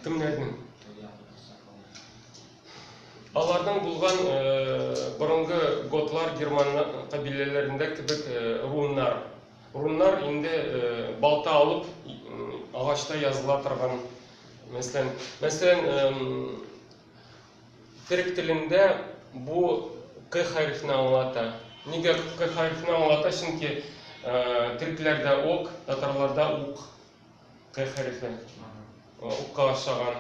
Кемнәрнең? Аларның булган борынгы готлар, герман кабиләләрендә кебек руннар. Руннар инде балта алып агачта языла торган. Мәсәлән, мәсәлән, Төрек телендә бу К хәрефне аңлата. Нигә К хәрефне аңлата? Чөнки төрекләрдә ок, татарларда ук К хәрефе. Укка ошаган.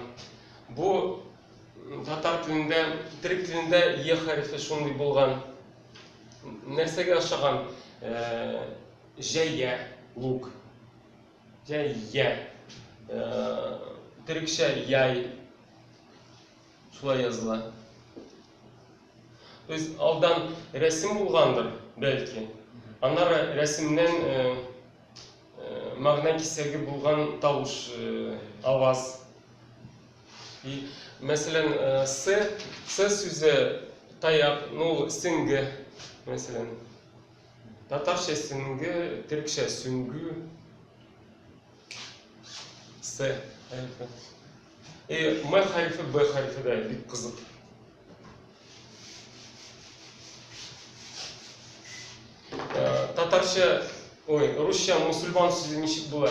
Бу татар телендә, төрек телендә Е хәрефе шундый булган. Нәрсәгә ошаган? Җәйгә, лук. Җәйә. Төрекчә яй шулай языла. То есть алдан рәсем булгандыр, бәлки. Аннары рәсемнән мәгънә кисәге булган тавыш, аваз. И, мәсәлән, с, с сүзе таяк, ну, сеңге, мәсәлән. Татарча сөнгү, төркчә сүнгү. С хәрефе. И М хәрефе, Б хәрефе дә бик кызык. Татарча, ой, русча мусульман сүзе ничек була?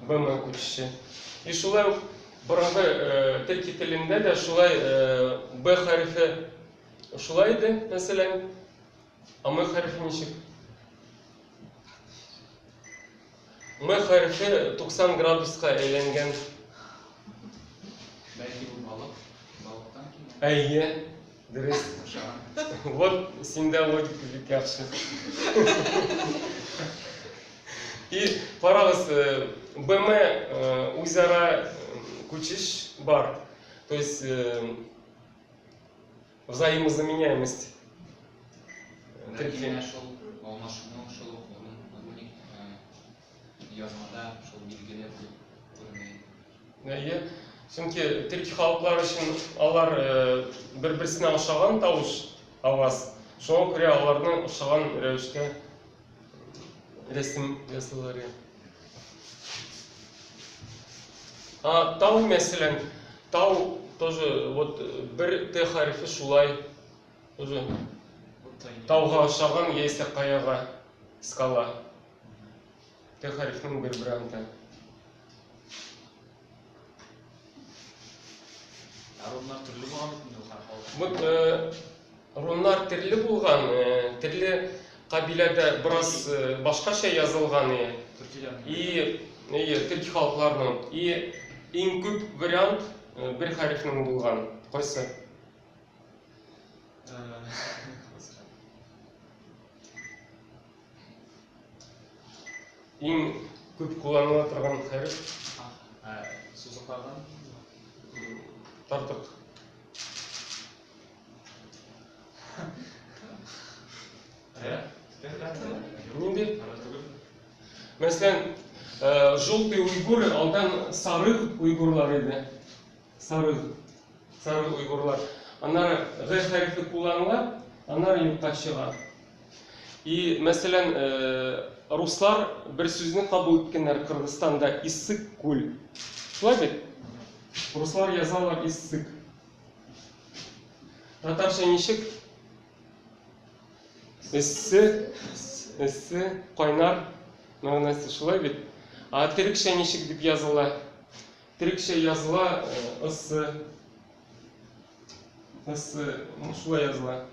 БМ күчеше. И шулай ук борынгы төрки телендә дә шулай Б хәрефе шулай иде, мәсәлән, АМ хәрефе ничек? М хәрефе 90 градуска әйләнгән. Әйе. Дөрес куша. Вот синдә логика бик яхшы. И карагыз, э, БМ э, үзара э, күчеш бар. То есть взаимозаменяемость. Ләкин шул алмашыну шул Язмада шул билгеле булып күренә. Әйе. Чөнки төрки халыклар өчен алар бер-берсенә ошаган тавыш, аваз. Шуңа күрә аларның ошаган рәвештә рәсем ясыйлар. А тау, мәсәлән, тау тоже вот бер Т хәрефе шулай тоже тауга ошаган яисә каяга скала. Т хәрефнең бер варианты. Ә руннар төрле булган бит инде ул хәреф алып. Бу э, руннар төрле булган, э, төрле кабиләдә бераз э, башкача язылган и Төркиләрнең. и и төрки халыкларның и иң күп вариант э, бер хәрефнең булган. Кайсы? Э, Иң күп кулланыла торган хәреф ә, сузыклардан тартык. Ә? Нинди? Мәсәлән, э, желтый уйгур алдан сары уйгурлар иде. Сарыл, сарыл уйгурлар. Аннары г хәрефе кулланыла, аннары юкка чыга. И, мәсәлән, руслар бер сүзне кабул иткәннәр Кыргызстанда иссык күл. Шулай бит? Руслар язалар иссык. Татарча ничек? Эссе, эссе, кайнар мәгънәсе шулай бит. А төрекчә ничек дип языла? Төрекчә языла ысы. Ысы, ну шулай языла.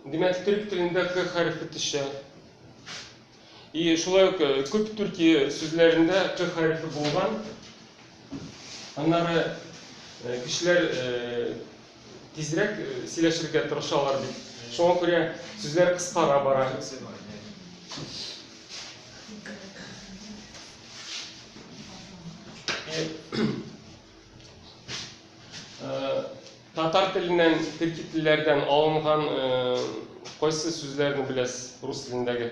Димәк, төрек телендә к хәрефе төшә. И шулай ук э, күп Төркия сүзләрендә к хәрефе булган. Аннары э, кешеләр э, тизрәк сөйләшергә тырышалар бит. Шуңа күрә сүзләр кыскара бара. Татар теленнән, төрки телләрдән алынган кайсы сүзләрне беләсез рус телендәге?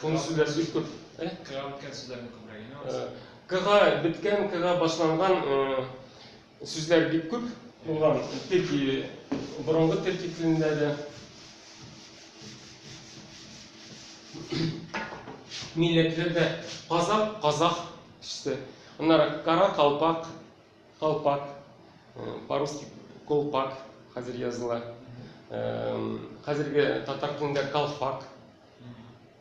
Шуны сүзләр бик күп. Э? Кыга беткән сүзләрне күбрәк инде. Кыга беткән, кыга башланган сүзләр бик күп булган. Төрки борынгы төрки телендә дә милләтләрдә казак, казах төште. Аннары кара калпак Колпак, по-русски колпак хәзер языла. Хәзерге татар телендә колфак.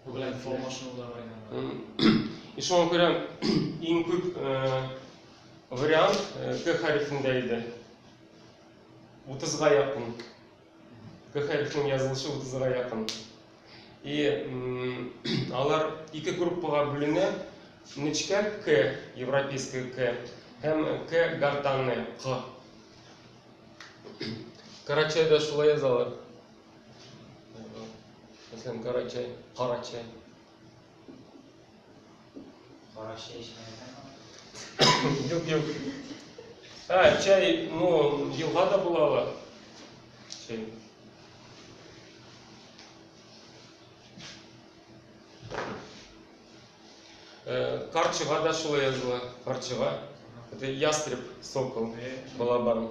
Бу белән формашынулар бәйләнә. И шуңа күрә иң күп вариант К хәрефендә иде. 30 га якын. Көхәлфнең язылышы утызга якын. И алар ике группага бүленә, нечкә К, европейская К, һәм К гортанная К. Карачайда шулай язалар. Мәсәлән, Карачай, Карачай. Кара чәй эчмәгән. Юк, юк. Ә, чәй, ну, елга да була ала. Чәй. Э, Карчыга да шулай языла. Карчыга. Это ястреб, сокол, балабан.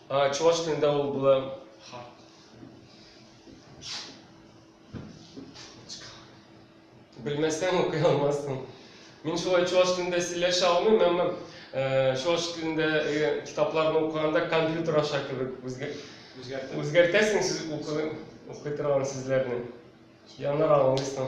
А чуваш телендә ул була Ха. Белмәсәң, укый алмассың. Мин шулай чуаш телендә сөйләшә алмыйм, әмма э, чуаш телендә э, китапларны укыганда компьютер аша кебек үзгә- Үзгәртеп. үзгәртәсең сүз укы, укый торган сүзләрне. Янар аңлыйсың.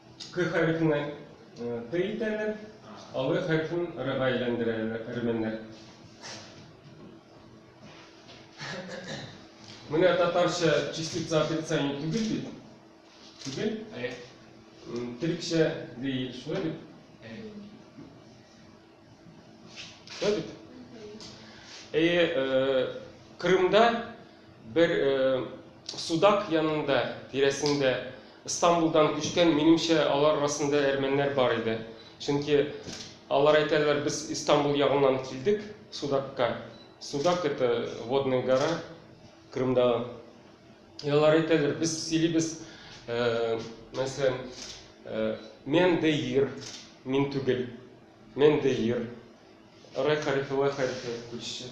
К хәрефенә Т итәләр, алгы хәрефен Рга әйләндерәләр әрмәннәр. Менә татарча частица отрицания түгел бит. Түгел? Төрекчә ди, шулай бит? Кырымда бер судак янында, тирәсендә Истанбулдан күчкән, минемчә, алар арасында әрмәннәр бар иде. Чөнки алар әйтәләр, без Истанбул ягыннан килдек судакка. Судак это водная гора Кырымда. Ә алар әйтәләр, без сөйлибез, мәсәлән, мен де ир, мин түгел, мен де ир. Рай хәрефе, лай хәрефе күчеше.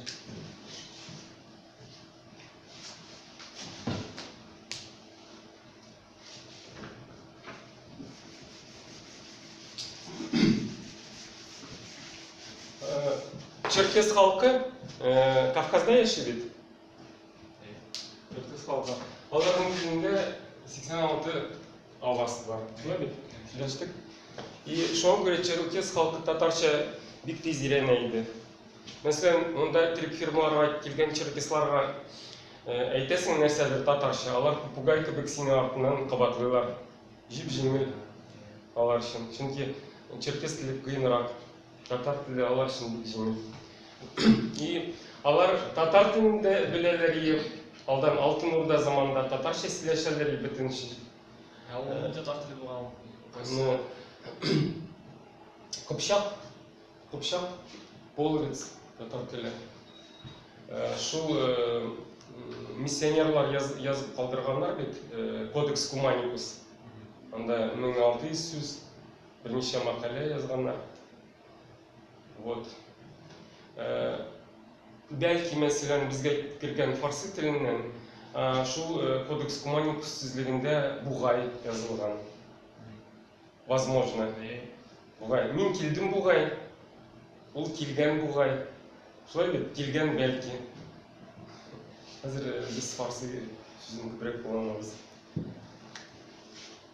Черкес халкы Кавказда яши бит. Кыскалта. Аларның күзендә 86 авасы бар. Шулай бит? Сөйләштек. И шуңа күрә черукес халкы татарча бик тиз өйрәнә иде. Мәсәлән, монда төрек фирмаларга килгән черукесларга әйтәсең нәрсәдер татарча, алар попугай кебек сине артыннан кабатлыйлар. Җип-җиңел алар өчен. Чөнки черкес теле кыенрак. Татар теле алар өчен бик җиңел. И алар татар телен дә беләләр, и алдан Алтын Урда заманында татарча сөйләшәләр, и бөтен эш. Ә ул э, татар теле булган. Ну, Кыпчак, Кыпчак, половец, татар теле. Э, шул э, миссионерлар яз, язып калдырганнар бит, кодекс Куманикус. Анда 1600 сүз Берничә макалә язганнар. Вот. Бәлки, мәсәлән, безгә кергән фарсы теленнән шул кодекс куманикус сүзлегендә бугай язылган. Возможно. Бугай. Мин килдем бугай. Ул килгән бугай. Шулай бит, килгән бәлки. Хәзер без фарсы сүзен күбрәк кулланабыз.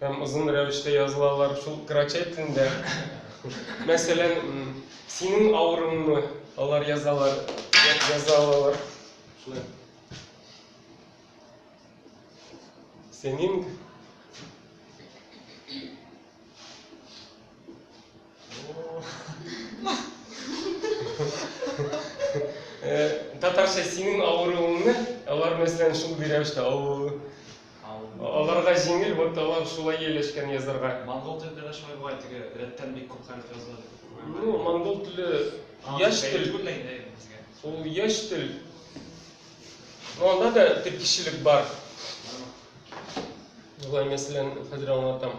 Һәм озын рәвештә язылалар шул крачай телендә. Мәсәлән, синең авырыңмы? Алар язалар, яза алалар. Шулай. Синең Э, татарча синең авыруыңны алар мәсәлән шул рәвештә авыру аларга җиңел вот алар шулай ияләшкән язарга монгол телендә дә шулай була теге рәттән бик күп хәреф языла ну монгол теле яшь тел ул яшь тел но анда да тиркешелек бар болай мәсәлән хәзер аңлатам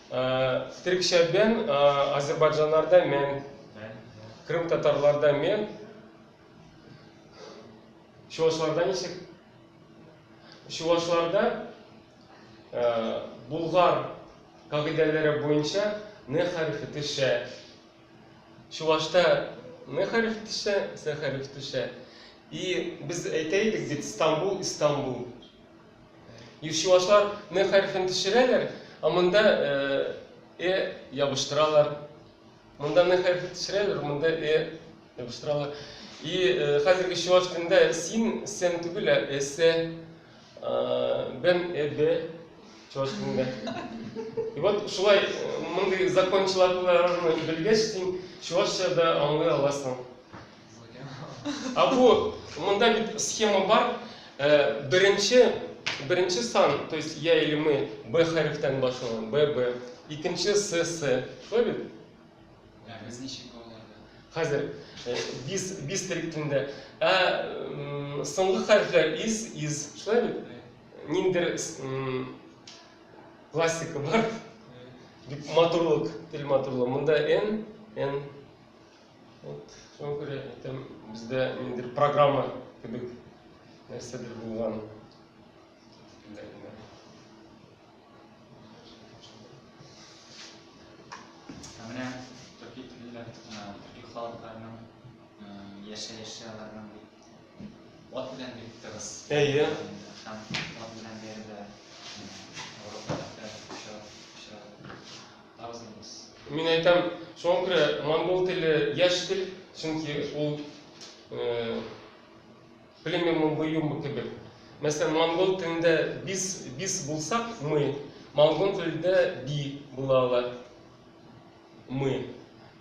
Трикшәбен азербайджанларда мен, крым татарларда мен, чувашларда ничек? Чувашларда булгар кагыйдәләре буенча не хәрефе төшә. Чувашта не хәреф төшә, с хәреф төшә. И без әйтә идек бит Стамбул, Истамбул. Юлчылашлар н хәрефен төшерәләр, а монда э ябыштыралар. Монда н хәрефен төшерәләр, монда э ябыштыралар. И хәзерге чуаш телендә син сен түгел, ә эсэ, бен эбе чуаш телендә. И вот шулай мондый закончаларны белгәч, син чуашча да аңлый аласың. А бу монда бит схема бар. Э, беренче беренче сан, то есть я или мы, Б хәрефтән башланган, Б, Б. Икенче С, С. Шулай бит? Ә без ничек аларда? Хәзер э, без без төркемендә. Ә соңгы хәрефләр из, из. Шулай бит? Ниндер классика бар. Матурлык, тел матурлыгы. Монда Н, Н. Вот, шуңа күрә әйтәм, бездә ниндидер программа кебек нәрсәдер булган. Ә менә төрки телләр, төрки халыкларның яшәеше аларның ат белән бик тыгыз. Әйе. Һәм ат белән бәрелә. Мин әйтәм, шуңа күрә монгол теле яшь тел, чөнки ул племеннең боюмы кебек. Мәсәлән, монгол телендә бис, бис булсак, мы, монгол телендә би була ала. Мы.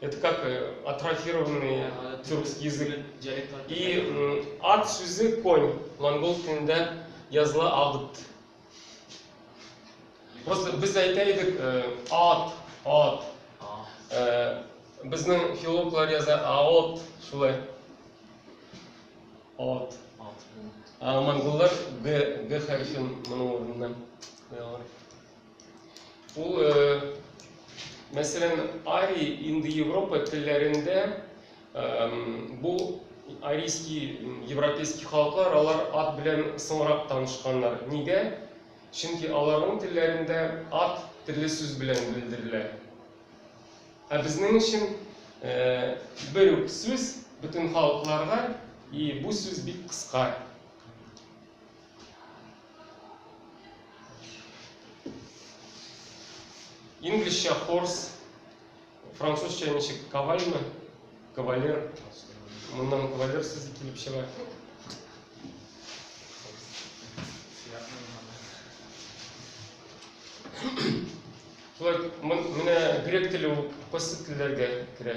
Это как э, атрофированный тюркский язык. И ат сүзе конь, монгол телендә языла агыт. Просто без әйтә идек, э, ат, ат. Э, Безнең филологлар яза аот, шулай. Ат. Ә монголлар г, г хәрефен моның урынына куялар. Ул, э, мәсәлән, ари инде Европа телләрендә Бу арийский, европейский халыклар, алар ат белән соңрак танышканнар. Нигә? Чөнки аларның телләрендә ат төрле сүз белән белдерелә. Ә безнең өчен бер үк сүз бөтен халыкларга, и бу сүз бик кыска. Инглишчә хорс, Французча ничек? Кавальмы? Кавалер. Моннан кавалер сүзе килеп чыга. Шулай, менә грек теле ул кайсы телләргә керә?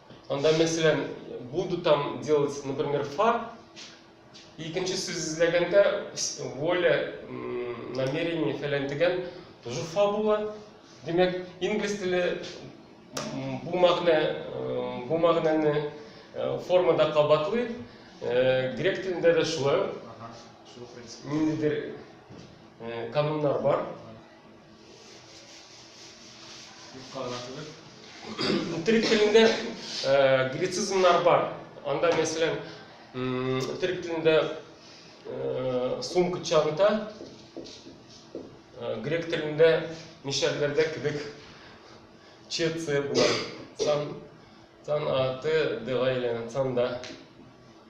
Анда мәсәлән, буду там делать, например, фа. Икенче сүз эзләгәндә воля, намерение фәлән дигән тоже фа була. Димәк, инглиз теле бу мәгънә, бу мәгънәне формада кабатлый. Грек телендә дә шулай. Ниндидер кануннар бар. Үтерик телендә э, грецизмнар бар. Анда, мәсәлән, үтерик телендә э, сумка чанта, э, грек телендә мишәрләрдә кебек чецы була. Сан, сан аты дыга әйләнә, санда.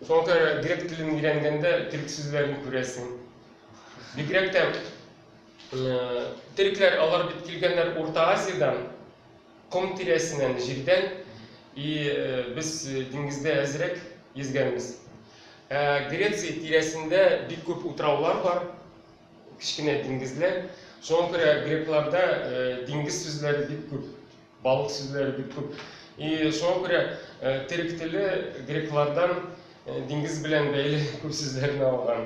Шуңа күрә грек телен өйрәнгәндә төрек сүзләрен күрәсең. Бигрәк тә Терекләр алар бит килгәннәр Урта Азиядән, ком тирәсеннән, җирдән, и без диңгездә әзрәк йөзгәнбез. Ә Греция тирәсендә бик күп утраулар бар, кечкенә диңгезләр. Шуңа күрә грекларда диңгез сүзләре бик күп, балык сүзләре бик күп. И шуңа күрә терек теле греклардан диңгез белән бәйле күп сүзләрне алган.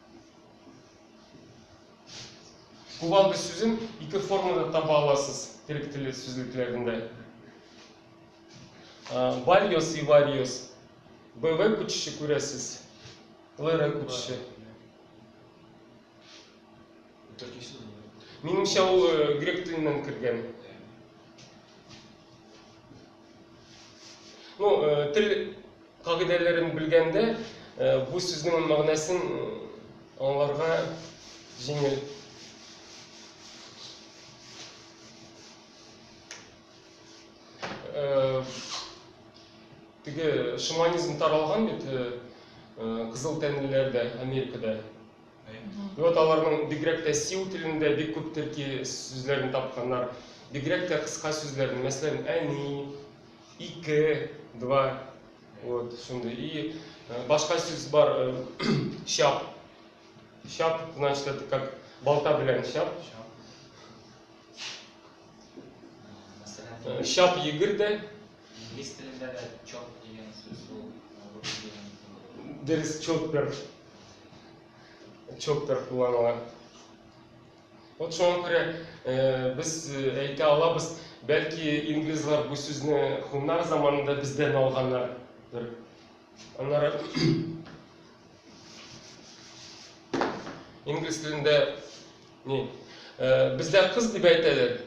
Кувалда сүзен ике формада таба аласыз төрек теле сүзлекләрендә. Вариос и вариос. БВ күчеше күрәсез. ЛР күчеше. Минемчә ул грек теленнән кергән. Ну, э, тел кагыйдәләрен белгәндә, э, бу сүзнең мәгънәсен э, аңларга җиңел. Э, теге шаманизм таралган бит э, э, кызыл тәнлеләрдә, Америкада. И вот аларның бигрәк тә сиу телендә бик күп төрки сүзләрен тапканнар. Бигрәк тә кыска сүзләрне, мәсәлән, әни, ике, два, вот, шундый. И э, башка сүз бар, э, чап. Чап, значит, это как балта белән чап. Э, Чап егер дә, Инглиз телендә дә чок дигән сүз ул рус телендә. Дөрес, чокпер. Чокпер кулланыла. Вот шуңа күрә э, без э, әйтә алабыз, бәлки инглизлар бу сүзне хуннар заманында бездән алганнардыр. Аннары инглиз телендә не, э, бездә кыз дип әйтәләр.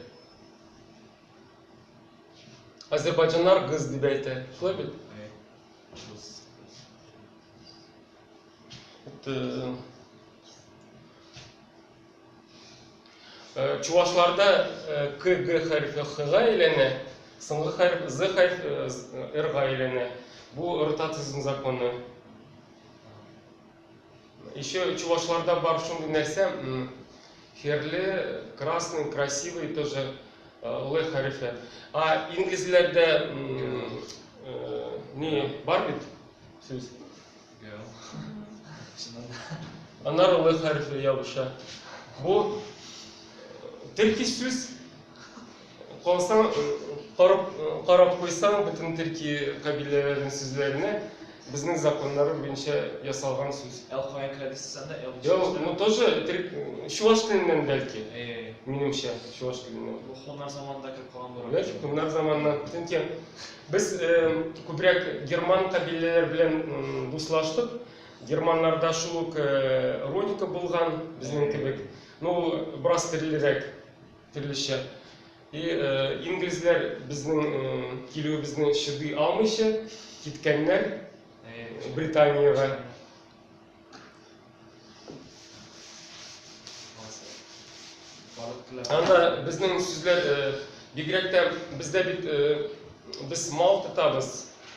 Азербайджаннар гыз дип әйтә. Шулай бит? Э, э, чувашларда э, к г хәрефе хга әйләнә, соңгы хәреф з хәрефе рга әйләнә. Бу ротациясенең законы. Еще чувашларда бар шундый нәрсә, херле, красный, красивый тоже лы э, хәрефе. А инглизләрдә э, не бар бит сүз? Анар лы хәрефе ябыша. Бу э, төрки сүз Калсаң, карап, карап куйсаң, бөтен төрки кабиләләрнең сүзләренә безнең законнары буенча ясалган сүз. Ә ул кая керә дисез анда? Ә ул чуаш теле? Ну, тоже чуаш теленнән бәлки. Минемчә, чуаш теленнән. Бу хуннар заманында кереп калган булыр. Бәлки хуннар заманыннан. Чөнки без күбрәк герман кабиләләре белән дуслаштык. Германнарда шул ук родика булган, безнең кебек. Ну, бераз төрлерәк. Төрлечә. И инглизләр безнең килүебезне чыдый алмыйча киткәннәр Британиягә. Анда безнең сүзләр бигрәк тә бездә бит без мал тотабыз.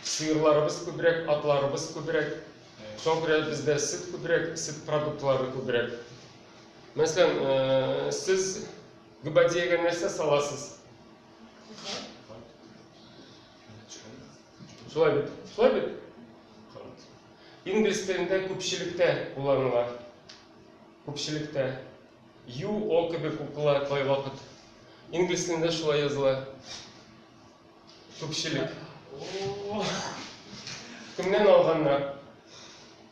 Сыерларыбыз күбрәк, атларыбыз күбрәк. Шуңа күрә бездә сөт күбрәк, сөт продуктлары күбрәк. Мәсәлән, э, сез гүбәдиягә нәрсә саласыз? Шулай бит. Шулай бит. Инглиз телендә күпчелектә кулланыла. Күпчелектә. You all кебек укыла кай вакыт. Инглиз телендә шулай языла. Күпчелек. Кемнән алганнар?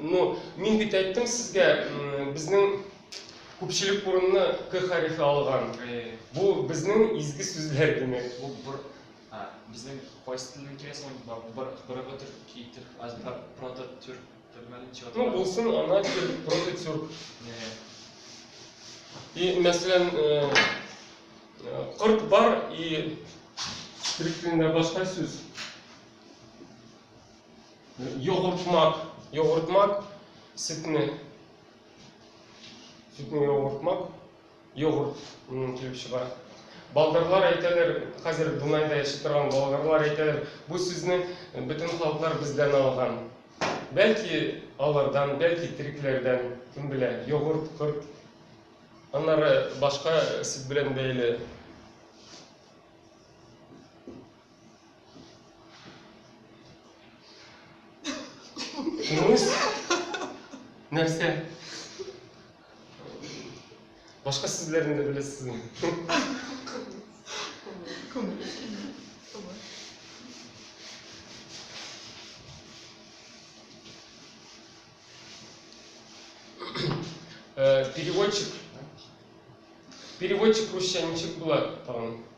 Ну, мин бит әйттем сезгә, безнең күпчелек урынны К хәрефе алган. Бу безнең изге сүзләр димәк. Бу бер безнең кайсы телдән килә соң? Бер бер төрк итер, аз прото төрк төрмәлен чыгып. Ну, булсын, ана төр прото тюрк. И, мәсәлән, корт бар и төрк телендә башка сүз. Йогуртмак. Йогуртмак. Сөтне. Сөтне йогуртмак. Йогурт килеп чыга. Болгарлар әйтәләр, хәзер Дунайда яши торган болгарлар әйтәләр, бу сүзне бөтен халыклар бездән алган. Бәлки алардан, бәлки терекләрдән, кем белә, йогурт, корт. Аннары башка сүз белән бәйле. Күңелсез? Нәрсә? Башка сүзләрне дә беләсезме? Э, переводчик. Переводчик русча ничек була тагын?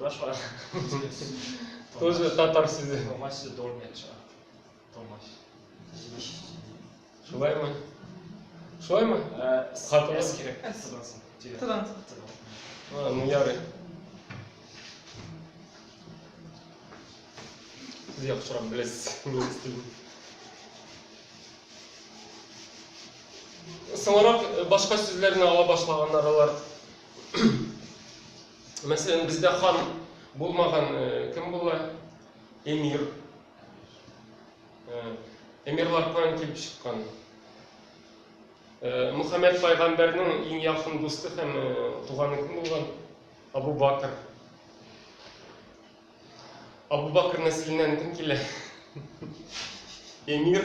Башка. Тоже татар сүзе. Томаш сүзе долмеча. Томаш. Шулаймы? Шулаймы? Хатымыз кирәк. Тыдан. Ну, ярый. Сез яхшырак беләсез. Соңрак башка сүзләрне ала башлаганнар алар. Мәсәлән, бездә хан булмаган кем була? Эмир. Эмирлар каян килеп чыккан? Мөхәммәд пайгамбәрнең иң якын дусты һәм туганы кем булган? Абу Бакр. Абу Бакр нәселеннән кем килә? Эмир.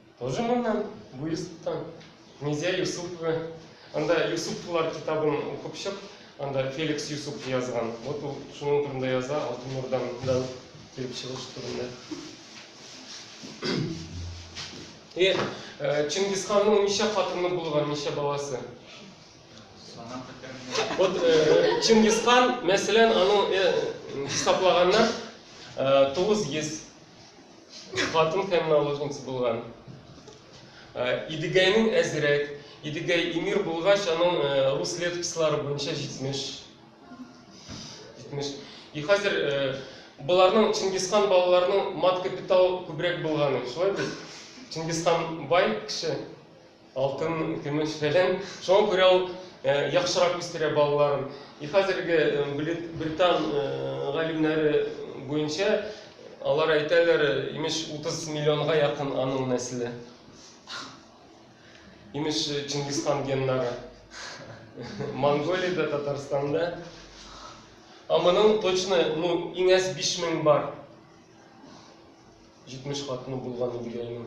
Тоже моннан, Буйсыктан. Низя Юсупова. Анда Юсуповлар китабын укып чык. Анда Феликс Юсупов язган. Вот ул шуның турында яза, Алтын Урдадан килеп чыгыш турында. И Чингисханның ничә хатыны булган, ничә баласы? Вот Чингисхан, мәсәлән, аның хисаплаганнан 900 Хатын һәм наложница булган. Идегәйнең әзрәк. Идегәй эмир булгач, аның рус летопислары буенча 70. 70. И хәзер боларның Чингисхан балаларының мат капитал күбрәк булганы, шулай бит? Чингисхан бай кеше. Алтын, көмеш фәлән. Шуңа күрә ул яхшырак үстерә балаларын. И хәзерге британ галимнәре буенча алар әйтәләр, имеш, 30 миллионга якын аның нәселе. Имеш, Чингисхан геннары. Монголиядә, Татарстанда. Ә моның точно, ну, иң әз 5000 бар. 70 хатыны булган иде әйнең.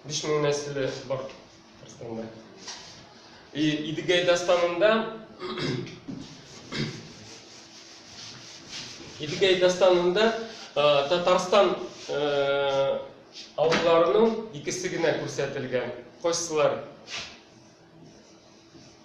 5000 нәселе бар Татарстанда. И Идегәй дастанында Идегәй дастанында Татарстан авылларының икесе генә күрсәтелгән. Кайсылар?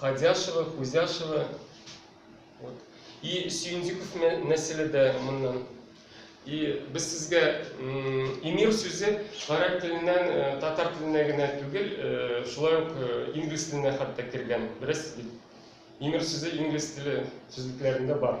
Ходяшево, Хузяшево. Вот. И Сюендиков нәселе дә моннан. И без сезгә эмир сүзе гарәп теленнән, э, татар теленә генә түгел, э, шулай ук э, инглиз теленә хәтта кергән. Беләсез бит. Эмир сүзе инглиз теле сүзлекләрендә бар.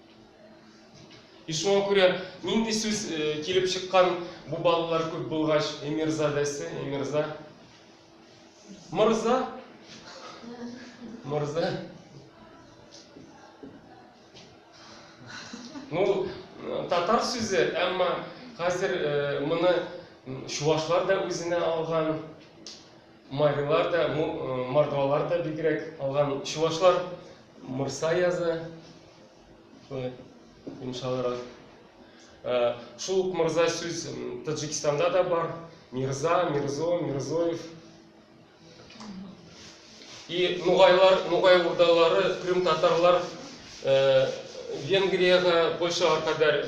И шуңа күрә нинди сүз э, килеп чыккан бу балалар күп булгач, эмирзадәсе, эмирза. Мырза. Мырза. Ну, татар сүзе, әмма хәзер э, моны чувашлар да үзенә алган. Марилар да, мордвалар да бигрәк алган. Чувашлар морса язы. Йомшалырак. Э, шул ук морза сүз Таджикстанда да бар. Мирза, Мирзо, Мирзоев. И нугайлар, нугай урдалары, крым татарлар э, Венгрияга, Польшага кадәр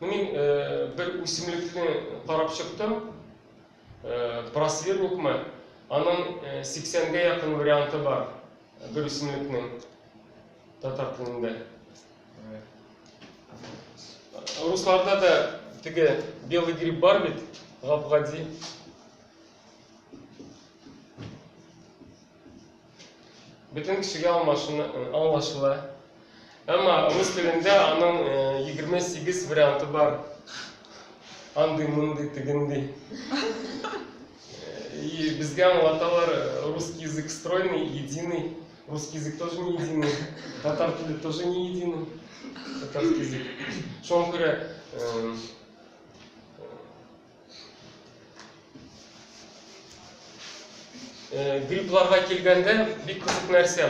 Мин бер үсемлекне карап чыктым. Просверникмы? Аның 80-гә якын варианты бар бер үсемлекнең татар телендә. Русларда да теге белый гриб бар бит, гапгади. Бөтен кешегә аңлашыла. Әмма рус телендә аның 28 варианты бар. Андый, мондый, тегендий. И безгә аңлаталар, русский язык стройный, единый. Русский язык тоже не единый. Татар теле тоже не единый. Татарский язык. Шуңа күрә Э, гриппларга килгәндә бик кызык нәрсә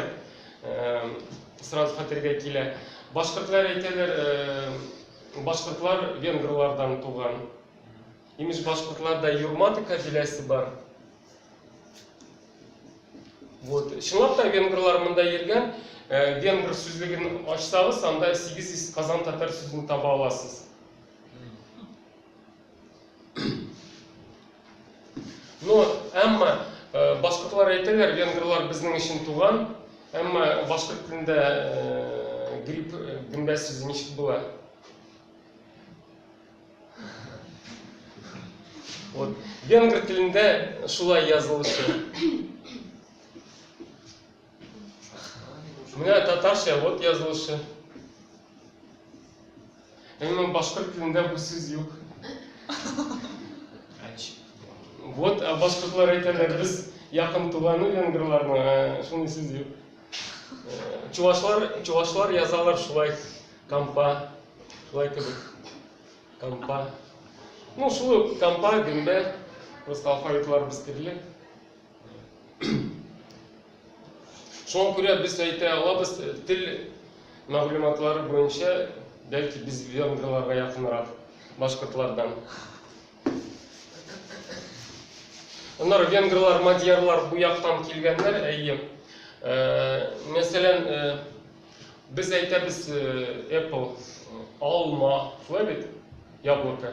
э, сразу хәтергә килә башкортлар әйтәләр э, башкортлар венгрлардан туган имеш башкортларда юрматы кабиләсе бар вот чынлап та венгрлар монда йөргән венгр сүзлеген ачсагыз анда сигез йөз казан татар сүзен таба аласыз Но, әмма башкортлар әйтәләр, венгрлар безнең өчен туган, әмма башкорт телендә грипп гөмбә сүзе ничек була? Вот, венгр телендә шулай язылышы. Менә татарча вот язылышы. Әмма башкорт телендә бу сүз юк. Вот а башкортлар әйтәләр, без якын туганы венгрларның, ә шундый сүз юк. Э, Чувашлар, чувашлар язалар шулай кампа, шулай кебек. Кампа. Ну, шулай ук кампа, гөмбә, просто алфавитларыбыз төрле. Шуңа күрә без әйтә алабыз, тел мәгълүматлары буенча, бәлки без венгрларга якынрак башкортлардан. Аннары венгрлар, мадьярлар бу яктан килгәннәр, әйе. Э, мәсәлән, э, без әйтәбез э, apple, алма, шулай бит? Яблоко.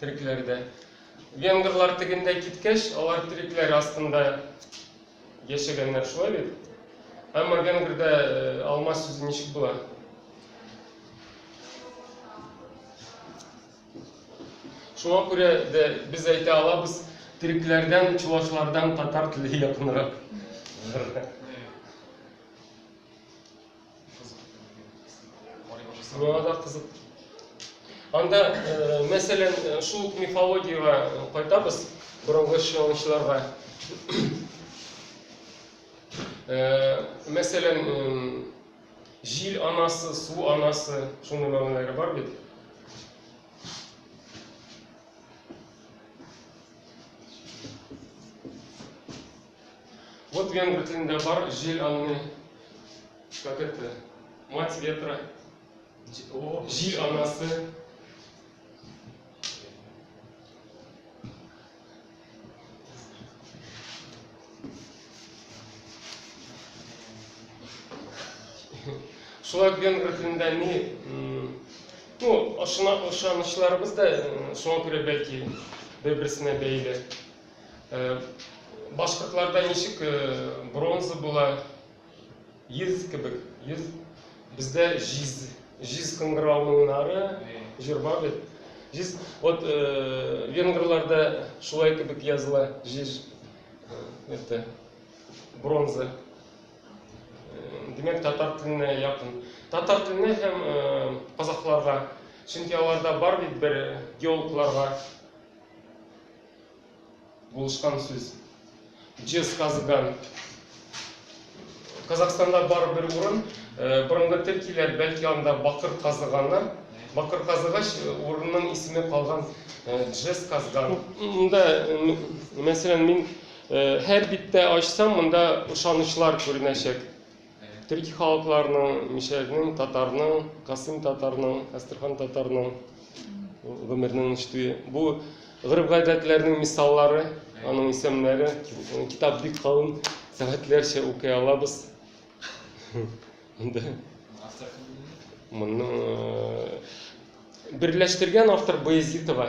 Төрекләр дә. Венгрлар тегендә киткәч, алар төрекләр астында яшәгәннәр, шулай бит? Әмма венгрда алма сүзе ничек була? Шуңа күрә дә без әйтә алабыз, төрекләрдән, чувашлардан татар теле якынрак. миңа да кызык анда э, мәсәлән э, шул ук мифологиягә э, кайтабыз борынгы чыгынчыларга мәсәлән җил анасы су анасы шуның мәгънәләре бар бит Вот венгр телендә бар җил анны как это мать ветра җил анасы шулай венгр телендә ни ну ышанычларыбыз да шуңа күрә бәлки бер берсенә бәйле Башкортларда ничек бронза була? Йөз кебек, йөз. Бездә җиз, җиз кыңгырауның нары, җыр бар бит. Җиз, вот венгрларда шулай кебек языла, җиз, это, бронза. Димәк, татар теленә якын. Татар теленә һәм казахларга Чөнки аларда бар бит бер геологларга Булышкан сүз. Җез казыган. Казахстанда бар бер урын, э, борынгы төркиләр бәлки анда бакыр казыганнар. Бакыр казыгач э, урынның исеме калган э, Джес казган. Монда э, мәсәлән мин һәр биттә ачсам, монда ышанычлар күренәчәк. Төрки халыкларның, мишәрнең, татарның, касыйм татарның, әстерхан татарның гомернең ничтүе. Бу гырып-гадәтләрнең мисаллары, аның исемнәре, китап бик калын, сәгатьләрчә укый алабыз. Монда моны берләштергән автор Баязитова.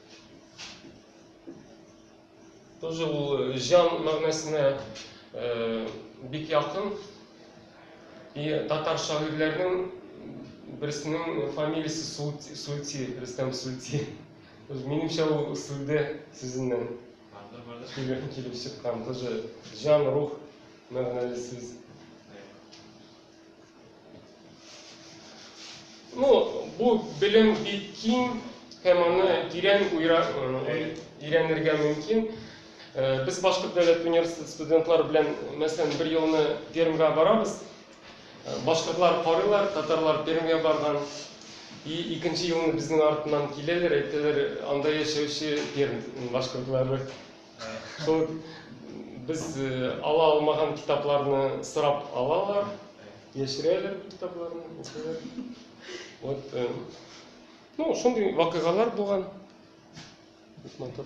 Тоже ул э, җан мәгънәсенә э, бик якын. И татар шагыйрьләренең берсенең фамилиясе Султи, Султи, Рөстәм Султи. Минемчә ул сүлде сүзеннән килеп, килеп чыккан. Тоже җан, рух мәгънәле сүз. Ну, бу белем бик киң һәм аны тирән уйра, өйрәнергә мөмкин. Э, без Башкорт дәүләт университеты студентлары белән, мәсәлән, бер елны Пермьгә барабыз. Э, башкортлар карыйлар, татарлар Пермьгә барган. И икенче елны безнең артыннан киләләр, әйтәләр, анда яшәүче Пермь башкортлары. Шул без э, ала алмаган китапларны сорап алалар, яшерәләр бу китапларны. укыйлар. Вот, э, ну, шундый вакыйгалар булган. Бик матур.